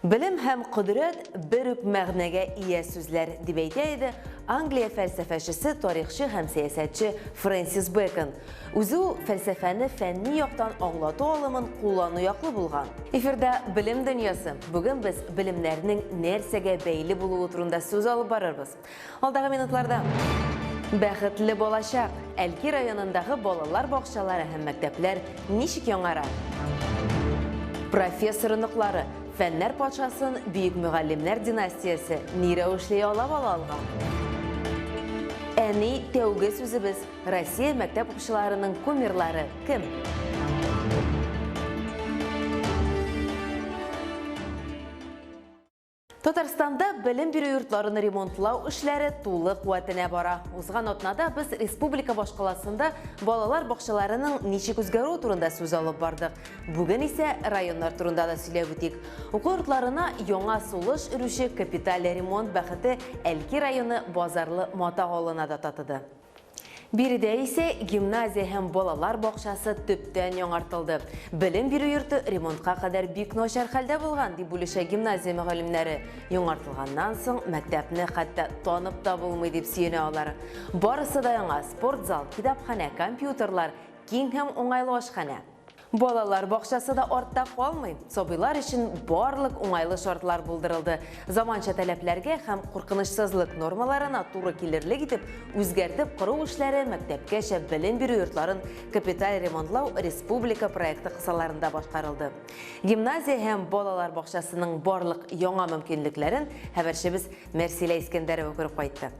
Белем һәм кодрәт бер үк мәгънәгә ия сүзләр, дип әйтә иде Англия фәлсәфәчесе, тарихчы һәм сәясәтче Фрэнсис Бэкон. Үзе ул фәлсәфәне фәнни яктан аңлату алымын куллану яклы булган. Эфирда Белем дөньясы. Бүген без белемнәрнең нәрсәгә бәйле булуы турында сүз алып барырбыз. Алдагы минутларда Бәхетле балачак! Әлки районындагы балалар бакчалары һәм мәктәпләр ничек яңара? Профессор оныклары, фәннәр патшасын бөек мөгаллимнәр династиясе ни рәвешле ялап ала алган? Әни тәүге сүзебез Россия мәктәп укучыларының кумирлары кем? Татарстанда белем бирү йортларын ремонтлау эшләре тулы куәтенә бара. Узган атнада без республика башкаласында балалар бакчаларының ничек үзгәрүе турында сүз алып бардык. Бүген исә районнар турында да сөйләп үтик. Уку йортларына яңа сулыш өрүче капиталь ремонт бәхете Әлки районы Базарлы Мата авылына да татыды. Биредә исә гимназия һәм балалар бакчасы төптән яңартылды. Белем бирү йорты ремонтка кадәр бик начар хәлдә булган, дип бүлешә гимназия мөгаллимнәре. Яңартылганнан соң мәктәпне хәтта танып та булмый, дип сөенә алар. Барысы да яңа, спортзал, китапханә, компьютерлар, киң һәм уңайлы ашханә. Балалар бакчасы да артта калмый. Сабыйлар өчен барлык уңайлы шартлар булдырылды. Заманча таләпләргә һәм куркынычсызлык нормаларына туры килерлек итеп үзгәртеп кору эшләре мәктәпкәчә белем бирү йортларын капиталь ремонтлау республика проекты кысаларында башкарылды. Гимназия һәм балалар бакчасының барлык яңа мөмкинлекләрен хәбәрчебез Мәрсилә Искәндәрова күреп кайтты.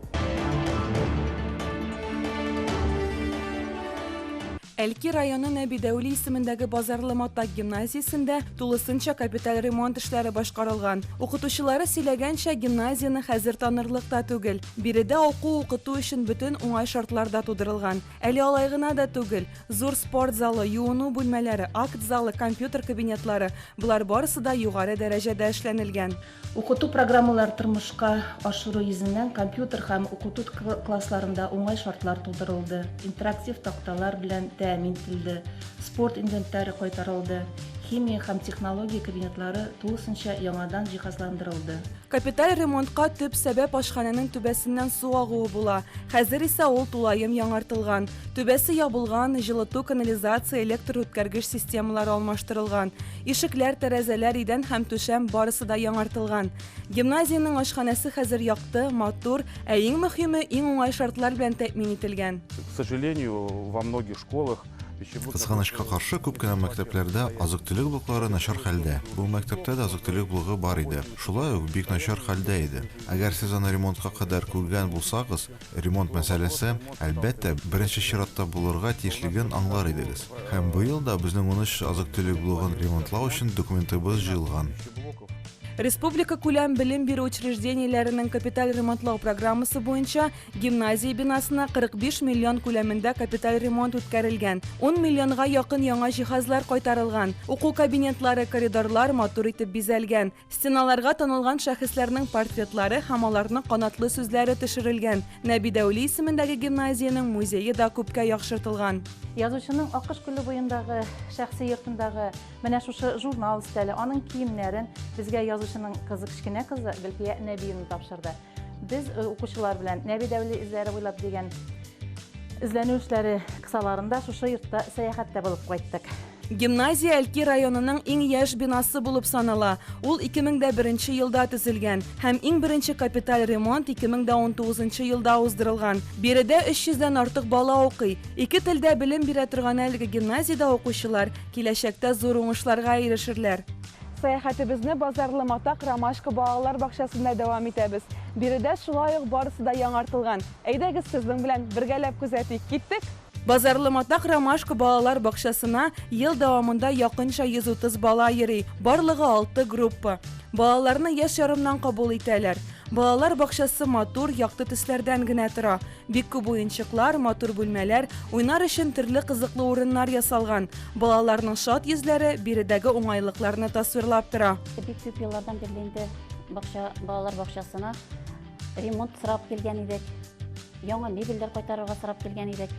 Әлки районы Нәби Дәүли исемендәге Базарлы Матак гимназиясендә тулысынча капиталь ремонт эшләре башкарылган. Укытучылары сөйләгәнчә, гимназияне хәзер танырлык та түгел. Биредә уку-укыту өчен бөтен уңай шартлар да тудырылган. Әле алай гына да түгел, зур спорт залы, юыну бүлмәләре, акт залы, компьютер кабинетлары, болар барысы да югары дәрәҗәдә эшләнелгән. Укыту программалар тормышка ашыру йөзеннән компьютер һәм укыту классларында уңай шартлар тудырылды, интерактив такталар белән тәэмин ителде, спорт инвентаре кайтарылды, химия һәм технология кабинетлары тулысынча яңадан җиһазландырылды. Капиталь ремонтка төп сәбәп ашханәнең түбәсеннән су агуы була, хәзер исә ул тулаем яңартылган. Түбәсе ябылган, җылыту, канализация, электр үткәргеч системалары алмаштырылган. Ишекләр, тәрәзәләр, идән һәм түшәм барысы да яңартылган. Гимназиянең ашханәсе хәзер якты, матур, ә иң мөхиме, иң уңай шартлар белән тәэмин ителгән. К сожалению, во многих школах пищеблок. Кызганычка каршы, күп кенә мәктәпләрдә азык-төлек блоклары начар хәлдә. Бу мәктәптә дә азык-төлек блогы бар иде. Шулай ук, бик начар хәлдә иде. Әгәр сез аны ремонтка кадәр күргән булсагыз, Ремонт мәсьәләсе, әлбәттә, беренче чиратта булырга тиешлеген аңлар идегез. Һәм быел да безнең унөч азык-төлек блогын ремонтлау өчен документыбыз җыелган. Республикакүләм белем бирү учреждениеләренең капиталь ремонтлау программасы буенча гимназия бинасына 45 миллион күләмендә капиталь ремонт үткәрелгән, ун миллионга якын яңа җиһазлар кайтарылган, уку кабинетлары, коридорлар матур итеп бизәлгән, Стеналарга танылган шәхесләрнең портретлары һәм аларның канатлы сүзләре төшерелгән. Нәби Дәүли исемендәге гимназиянең музее да күпкә яхшыртылган. Язучының Аккош күле буендагы шәхси йортындагы менә шушы журнал өстәле, аның киемнәрен безгә язучының кызы, кечкенә кызы Гөлфия Нәбиевна тапшырды. Без э, укучылар белән Нәби Дәүли эзләре буйлап дигән эзләнү эшләре кысаларында шушы йортта сәяхәттә булып кайттык. Гимназия Әлки районының иң яшь бинасы булып санала. Ул 2001 елда төзелгән һәм иң беренче капиталь ремонт 2019 елда уздырылган. Биредә 300 дән артык бала укый. Ике телдә белем бирә торган әлеге гимназиядә укучылар киләчәктә зур уңышларга ирешерләр. Сәяхәтебезне Базарлы Матак ромашка балалар бакчасында дәвам итәбез. Биредә шулай ук барысы да яңартылган. Әйдәгез, сезнең белән бергәләп күзәтик. Киттек! Базарлы Матак ромашка балалар бакчасына ел дәвамында якынча 130 бала йөри, барлыгы алты группа. Балаларны яшь ярымнан кабул итәләр. Балалар бакчасы матур, якты төсләрдән генә тора. Бик күп уенчыклар, матур бүлмәләр, уйнар өчен төрле кызыклы урыннар ясалган. Балаларның шат йөзләре биредәге уңайлыкларны тасвирлап тора. Бик күп еллардан бирле инде бакча, балалар бакчасына ремонт сорап килгән идек. Яңа мебельләр кайтарырга сорап килгән идек.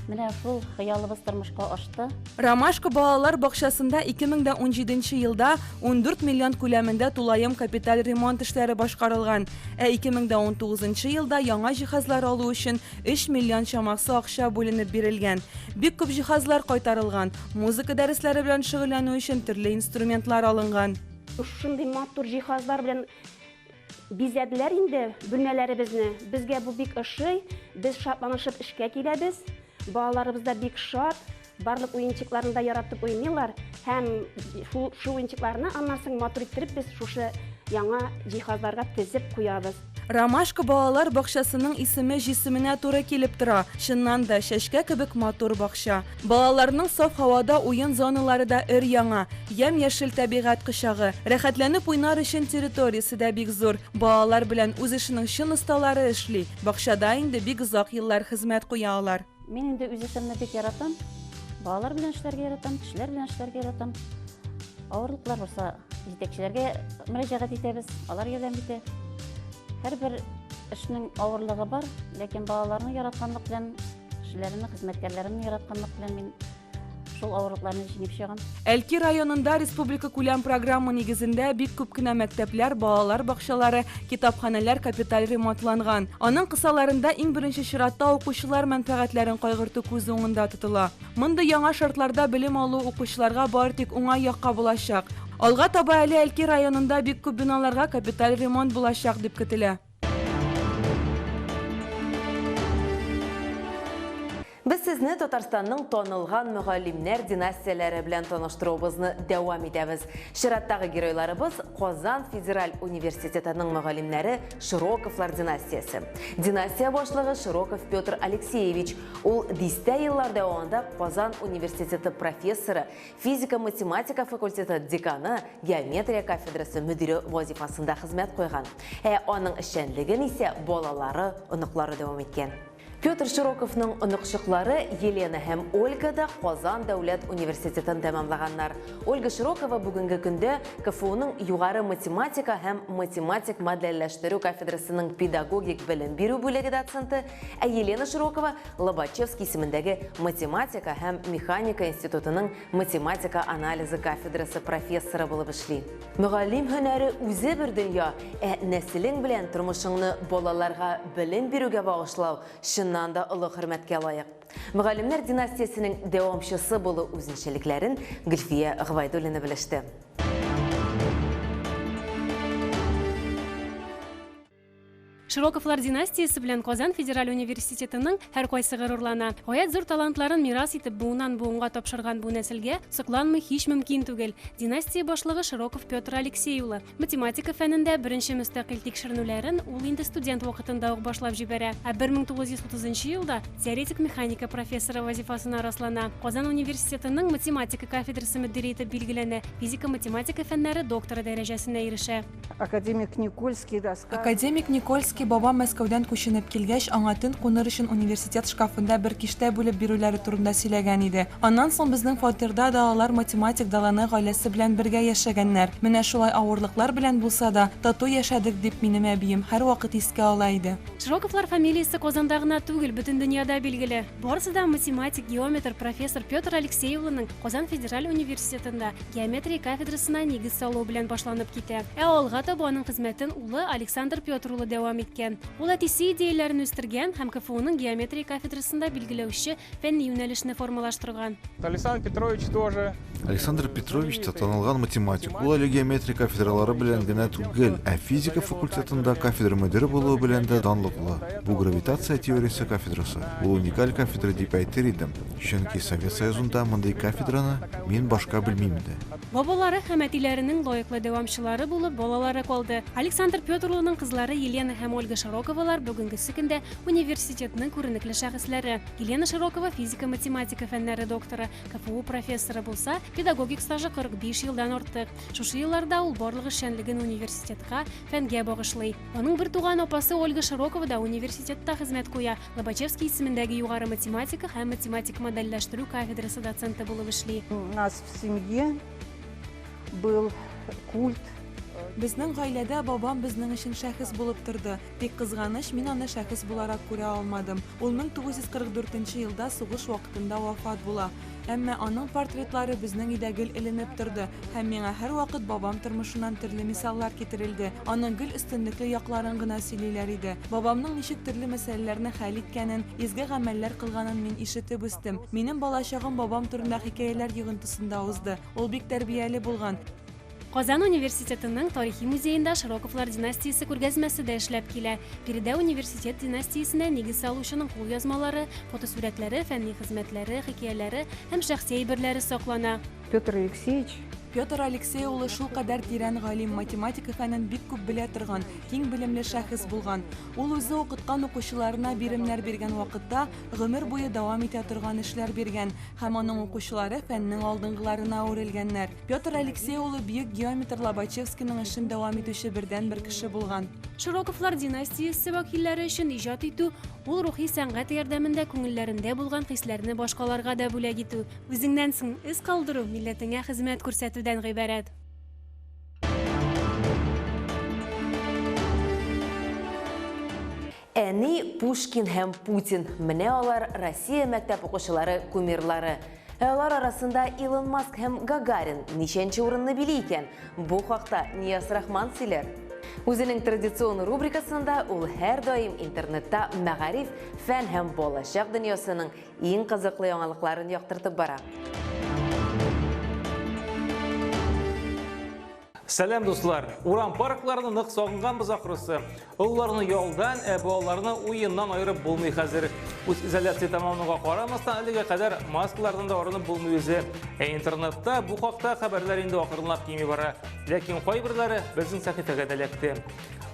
Менә шул хыялыбыз тормышка ашты. Ромашка балалар бакчасында 2017 елда 14 миллион күләмендә тулаем капиталь ремонт эшләре башкарылган, ә 2019 елда яңа җиһазлар алу өчен 3 миллион чамасы акча бүленеп бирелгән. Бик күп җиһазлар кайтарылган, музыка дәресләре белән шөгыльләнү өчен төрле инструментлар алынган. Шундый матур җиһазлар белән Бизәделәр инде бүлмәләребезне. Безгә бу бик ошый. Без шатланышып эшкә киләбез. Балаларыбыз да бик шат. Барлык уенчыкларны да яратып уйныйлар. Һәм шул, шул уенчыкларны аннан соң матур иттереп без шушы яңа җиһазларга тезеп куябыз. Ромашка балалар бакчасының исеме җисеменә туры килеп тора. Чыннан да, чәчкә кебек матур бакча. Балаларның саф һавада уен зоналары да өр-яңа, ямь-яшел тәбигать кочагы, рәхәтләнеп уйнар өчен территориясе дә бик зур. Балалар белән үз эшенең чын осталары эшли, бакчада инде бик озак еллар хезмәт куя алар. Мин инде үз эшемне бик яратам. Балалар белән эшләргә яратам, кешеләр белән эшләргә яратам. Авырлыклар булса, җитәкчеләргә мөрәҗәгать итәбез, алар ярдәм итә. Һәрбер эшнең авырлыгы бар, ләкин балаларны яратканлык белән Кешеләрне, хезмәткәрләрне яратканлык белән мин шул авырлыкларны җиңеп чыгам. Әлки районында республика күләм программа нигезендә бик күп кенә мәктәпләр, балалар бакчалары, китапханәләр капиталь ремонтланган. Аның кысаларында иң беренче чиратта укучылар мәнфәгатьләрен кайгырту күз уңында тотыла. Мондый яңа шартларда белем алу укучыларга бары тик уңай якка булачак. Алга таба әле Әлки районында бик күп биналарга капиталь ремонт булачак дип көтелә. Без сезне Татарстанның танылган мөгаллимнәр династияләре белән таныштыруыбызны дәвам итәбез. Чираттагы геройларыбыз Казан федераль университетының мөгаллимнәре Широковлар династиясе. Династия башлыгы Широков Петр Алексеевич. Ул дистә еллар дәвамында Казан университеты профессоры, Физика-математика факультеты деканы, геометрия кафедрасы мөдире вазифасында хезмәт куйган. Ә аның эшчәнлеген исә балалары, оныклары дәвам иткән. Петр Широковның оныкчыклары Елена һәм Ольга да Казан дәүләт университетын тәмамлаганнар. Ольга Широкова бүгенге көндә КФУның югары математика һәм математик модельләштерү кафедрасының педагогик белем бирү бүлеге доценты, Ә Елена Широкова Лобачевский исемендәге математика һәм механика институтының математика анализы кафедрасы профессоры булып эшли. Мөгаллим һөнәре үзе бер дөнья, ә нәселең белән тормышыңны балаларга белем бирүгә багышлау чыннан да олы хөрмәткә лаек. Мөгаллимнәр династиясенең дәвамчысы булу үзенчәлекләрен Гөлфия Гвайдуллина белеште. Широковлар династиясе белән Казан федераль университетының һәркайсы горурлана. Гаять зур талантларын мирас итеп буыннан-буынга тапшырган бу нәселгә сокланмый һич мөмкин түгел. Династия башлыгы Широков Петр Алексей улы. Математика фәнендә беренче мөстәкыйль тикшеренүләрен ул инде студент вакытында ук башлап җибәрә, ә 1930 нчы елда теоретик механика профессоры вазифасына раслана. Казан университетының математика кафедрасы мөдире итеп билгеләнә, физика-математика фәннәре докторы дәрәҗәсенә ирешә. Академик Никольский рассказ. Академик Никольский бабам Мәскәүдән күченеп килгәч, аңа төн куныр өчен университет шкафында бер киштә бүлеп бирүләре турында сөйләгән иде. Аннан соң безнең фатирда да алар математик Далане гаиләсе белән бергә яшәгәннәр. Менә шулай авырлыклар белән булса да, тату яшәдек, дип минем әбием һәрвакыт искә ала иде. Широковлар фамилиясе Казанда гына түгел, бөтен дөньяда билгеле. Барысы да математик, геометр, профессор Петр Алексей улының Казан федераль университетында, геометрия кафедрасына нигез салу белән башланып китә. Ә алга таба аның хезмәтен улы Александр Петр улы дәвам иткән. Ул әтисе идеяләрен үстергән һәм КФУның геометрия кафедрасында билгеләүче фәнни юнәлешне формалаштырган. Александр Петрович тоже Александр Петрович та танылган математик. Ул әле геометрия кафедралары белән генә түгел, ә физика факультетында кафедра мөдире булуы белән дә данлыклы. Бу гравитация теориясе кафедрасы. Ул уникаль кафедра дип әйтер идем. Чөнки Совет Союзында мондый кафедраны мин башка белмим иде. Бабалары һәм әтиләренең лаеклы дәвамчылары булып балалары калды. Александр Петр улының кызлары Елена һәм Ольга Широковалар бүгенгесе көндә университетның күренекле шәхесләре. Елена Широкова физика-математика фәннәре докторы, КФУ профессоры булса, педагогик стажы 45 елдан артык. Шушы елларда ул барлык эшчәнлеген университетка, фәнгә багышлый. Аның бертуган апасы Ольга Широкова да университетта хезмәт куя. Лобачевский исемендәге югары математика һәм математик модельләштерү кафедрасы доценты булып эшли. У нас в семье был культ Безнең гаиләдә бабам безнең өчен шәхес булып торды. Тик кызганыч, мин аны шәхес буларак күрә алмадым. Ул 1944 елда сугыш вакытында вафат була. Әмма аның портретлары безнең өйдә гел эленеп торды, һәм миңа һәрвакыт бабам тормышыннан төрле мисаллар китерелде. Аның гел өстенлекле якларын гына сөйлиләр иде. Бабамның ничек төрле мәсьәләләрне хәл иткәнен, изге гамәлләр кылганын мин ишетеп үстем. Минем балачагым бабам турында хикәяләр йогынтысында узды. Ул бик тәрбияле булган. Казан университетының тарихи музеенда Широковлар династиясе күргәзмәсе дә эшләп килә. Биредә университет династиясенә нигез салучының кулъязмалары, фотосурәтләре, фәнни хезмәтләре, хикәяләре һәм шәхси әйберләре саклана. Петр Алексеевич Петр Алексей улы шул кадәр тирән галим, математика фәнен бик күп белә торган, киң белемле шәхес булган. Ул үзе укыткан укучыларына биремнәр биргән вакытта гомер буе дәвам итә торган эшләр биргән һәм аның укучылары фәннең алдынгыларына әверелгәннәр. Петр Алексей улы бөек геометр Лобачевскийның эшен дәвам итүче бердән-бер кеше булган. Широковлар династиясе вәкилләре өчен иҗат итү, ул рухи сәнгать ярдәмендә күңелләрендә булган хисләрне башкаларга да бүләк итү, үзеңнән соң эз калдыру, милләтеңә хезмәт күрсәтүдән гыйбарәт. Әни Пушкин һәм Путин, менә алар Россия мәктәп укучылары кумирлары. Ә алар арасында Илон Маск һәм Гагарин ничәнче урынны били икән? Бу хакта Нияз Рахман сөйләр. Үзенең традицион рубрикасында ул һәрдаим интернетта мәгариф, фән һәм балачак дөньясының иң кызыклы яңалыкларын яктыртып бара. Сәлам дуслар! Урам паркларны нык сагынганбыз ахрысы. Олыларны ялдан, ә балаларны уеннан айырып булмый хәзер. Үз изоляция тамамлануга карамастан, әлегә кадәр маскалардан да арынып булмый үзе. Ә интернетта бу хакта хәбәрләр инде акрынлап кими бара. Ләкин кайберләре безнең сәхифәгә дә эләкте.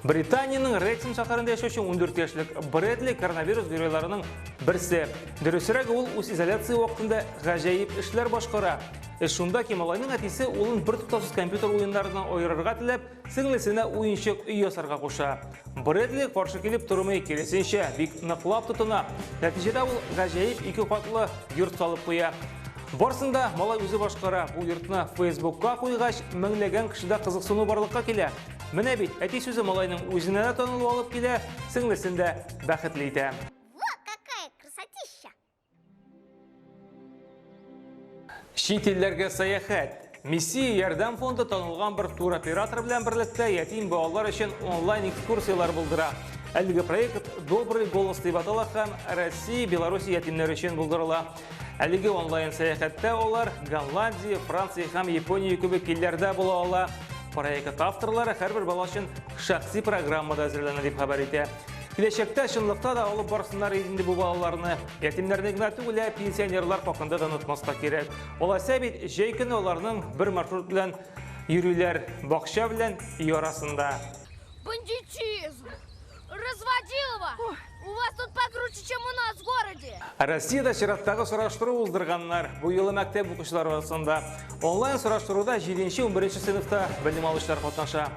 Британиянең Рексом шәһәрендә яшәүче 14 яшьлек Брэдли коронавирус геройларының берсе. Дөресрәге ул үз изоляция вакытында гаҗәеп эшләр башкара. Эш шунда ки, малайның әтисе улын бертуктаусыз компьютер уеннарыннан аерырга теләп, сеңлесенә уенчык өй ясарга куша. Брэдли каршы килеп тормый, киресенчә, бик ныклап тотына. Нәтиҗәдә ул гаҗәеп ике катлы йорт салып куя. Барсын да малай үзе башкара. Бу йортны Фейсбукка куйгач, меңләгән кешедә кызыксыну барлыкка килә. Менә бит, әти сүзе малайның үзенә дә танылу алып килә, сеңлесен дә бәхетле итә. Чит илләргә сәяхәт. Миссия ярдәм фонды танылган бер туроператор белән берлектә ятим балалар өчен онлайн экскурсияләр булдыра. Әлеге проект Добрый голос дип атала һәм Россия, Беларусь ятимнәре өчен булдырыла. Әлеге онлайн сәяхәттә алар Голландия, Франция һәм Япония кебек илләрдә була ала. Проект авторлары һәрбер бала өчен шәхси программада әзерләнә дип хәбәр итә. Киләчәктә чынлыкта да алып барсыннар инде бу балаларны. Ятимнәрне генә түгел, ә пенсионерлар хакында да онытмаска кирәк. Алайса бит, җәй көне аларның бер маршрут белән йөриләр, бакча белән өй арасында. Бандитизм! Разводилова! У вас тут покруче, чем у нас в городе! Россиядә чираттагы сораштыру уздырганнар. Бу юлы мәктәп укучылары арасында. Онлайн сораштыруда 7-11 сыйныфта белем алучылар катнаша.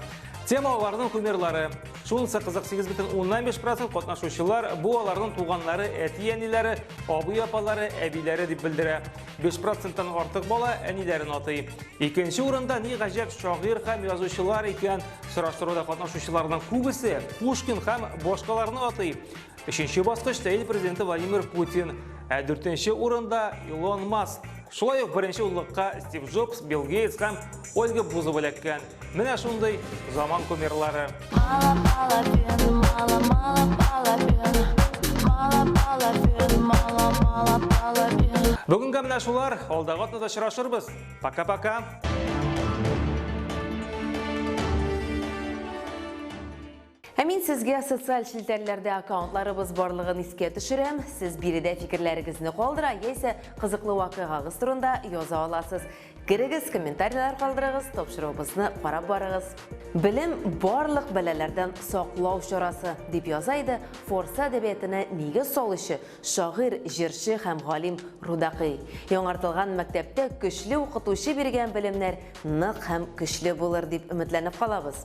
Тема аларның кумирлары. Шунысы кызык, 8,5 процент катнашучылар бу аларның туганнары, әти-әниләре, абый-апалары, әбиләре дип белдерә. 5 проценттан артык бала әниләрен атый. Икенче урында ни гаҗәп шагыйрь һәм язучылар икән. Сораштыруда катнашучыларның күбесе Пушкин һәм башкаларны атый. Өченче баскычта ил президенты Владимир Путин, ә дүртенче урында Илон Маск. Шулай ук беренче уллыкка Стив Джобс, Билл Гейтс һәм Ольга Бузова эләккән. Менә шундый заман кумирлары. Бүгенгә менә шулар, алдагы атнада очрашырбыз. Пока-пока. Ә мин сезгә социаль челтәрләрдә аккаунтларыбыз барлыгын искә төшерәм. Сез биредә фикерләрегезне калдыра яисә кызыклы вакыйгагыз турында яза аласыз. Керегез, комментарийлар калдырыгыз, тапшыруыбызны карап барыгыз. Белем барлык бәләләрдән саклау чарасы, дип яза иде Форса әдәбиятенә нигез салучы, шагыйрь, җырчы һәм галим Рудакый. Яңартылган мәктәптә көчле укытучы биргән белемнәр нык һәм көчле булыр дип өметләнеп калабыз.